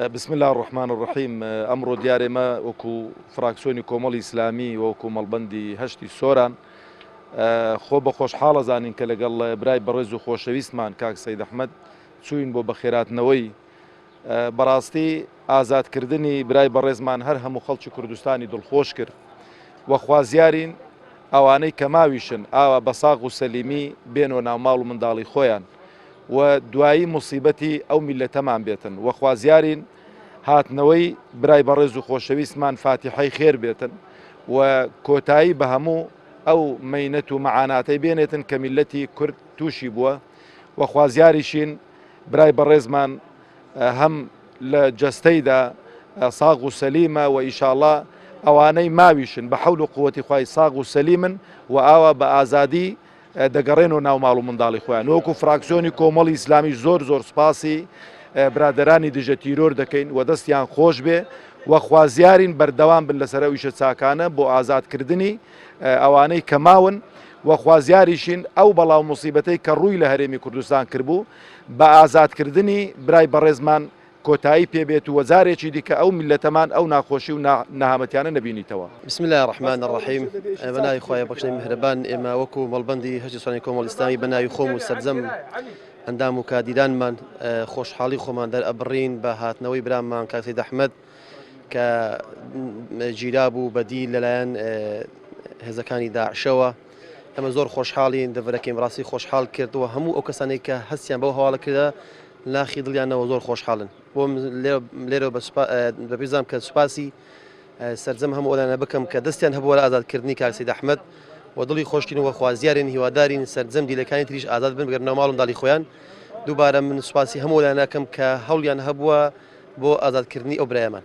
بسم الله الرحمن الرحیم ئەمڕۆ دیارێ مە وەکو فراکسۆنی کۆمەڵی ئیسلامی وەکو مەڵبندی هەشتی سۆران خۆ بە خۆشحاڵە زانین کە لەگەڵ برای بەڕێز و خۆشەویستمان کاک سەید ئەحمد چوین بۆ بەخێراتنەوەی بەڕاستی ئازاد کردنی برای بەڕێزمان هەر هەموو خەڵکی کوردستانی دڵخۆش کرد و خوازیارین ئەوانەی کە ماویشن ئاوا بە ساغ و سەلیمی بێنۆ ناو ماڵ و منداڵی خۆیان و دوایی موسیبەتی ئەو میلەتەمان بێتن و خوازیارین هاتنەوەی برای بەڕێز و خۆشەویستمان فاتیحەی خێر بێتن و کۆتایی بە هەموو ئەو مەینەت و مەعاناتەی بێنێتن کە میلەتی کورد تووشی بووە و خوازیاریشین برای بەڕێزمان هەم لە جەستەیدا ساغ و سەلیمە و ئیشاڵا ئەوانەی ماویشن بە حەول و قوتی خوای ساغ و سەلیمن و ئاوا بە ئازادی دەگەڕێن و ناو ماڵ و منداڵی خۆیان وەکو فراکسیۆنی کۆمەڵی ئیسلامی زۆر زۆر سپاسی برادرانی دژە تیرۆر دەکەین و دەستیان خۆش بێ و خوازیارین بەردەوام بن لەسەر ئەو ئیشە چاکانە بۆ ئازادکردنی ئەوانەی کە ماون و خوازیاریشین ئەو بەڵا و موسیبەتەی کە ڕووی لە هەرێمی کوردستان کردبوو، بە ئازادکردنی برای بەڕێزمان کۆتایی پێبێت و جارێکی دیکە ئەو میللەتەمان ئەو ناخۆشی و نەهامەتیانە نەبینیتەوە. بسم اللە الرحمن الرحیم بە ناوی خوای بەخشەری میهرەبان ئێمە وەکو مەڵبەندی هەرسی سوانی کۆمەڵی ئیسلامی بە ناوی خۆم و سەرجەم ئەندام و کادیرانمان خۆشحاڵی خۆمان دەرئەبڕین بە هاتنەوەی برامان کاک سەید ئەحمەد کە گیرابوو بە دیل لەلایەن هێزەکانی داعشەوە ئەمە زۆر خۆشحاڵین دەڤەرەکەیم ڕاستی خۆشحاڵ کردەوە هەموو ئەو کەسانی کە هەستیان بەو هەواڵە کردە ناخی دڵیانەوە زۆر خۆشحاڵن بۆ لێرە بەپیزام کە سوپاسی سرجەم هەموو ئەلانە بکەم کە دەستیان هەبووە لە ئازادکردنی کاسی دەحمد و دڵی خۆشکین وە خوازیارین هیوادارین سرجەم دیلەکانی تریش ئازاد بن بگەرنەوە ماڵم داڵی خۆیان دووبارە من سوپاسی هەموو لایەنەکەم کە هەوڵیان هەبووە بۆ ئازادکردنی ئەو برایەمان.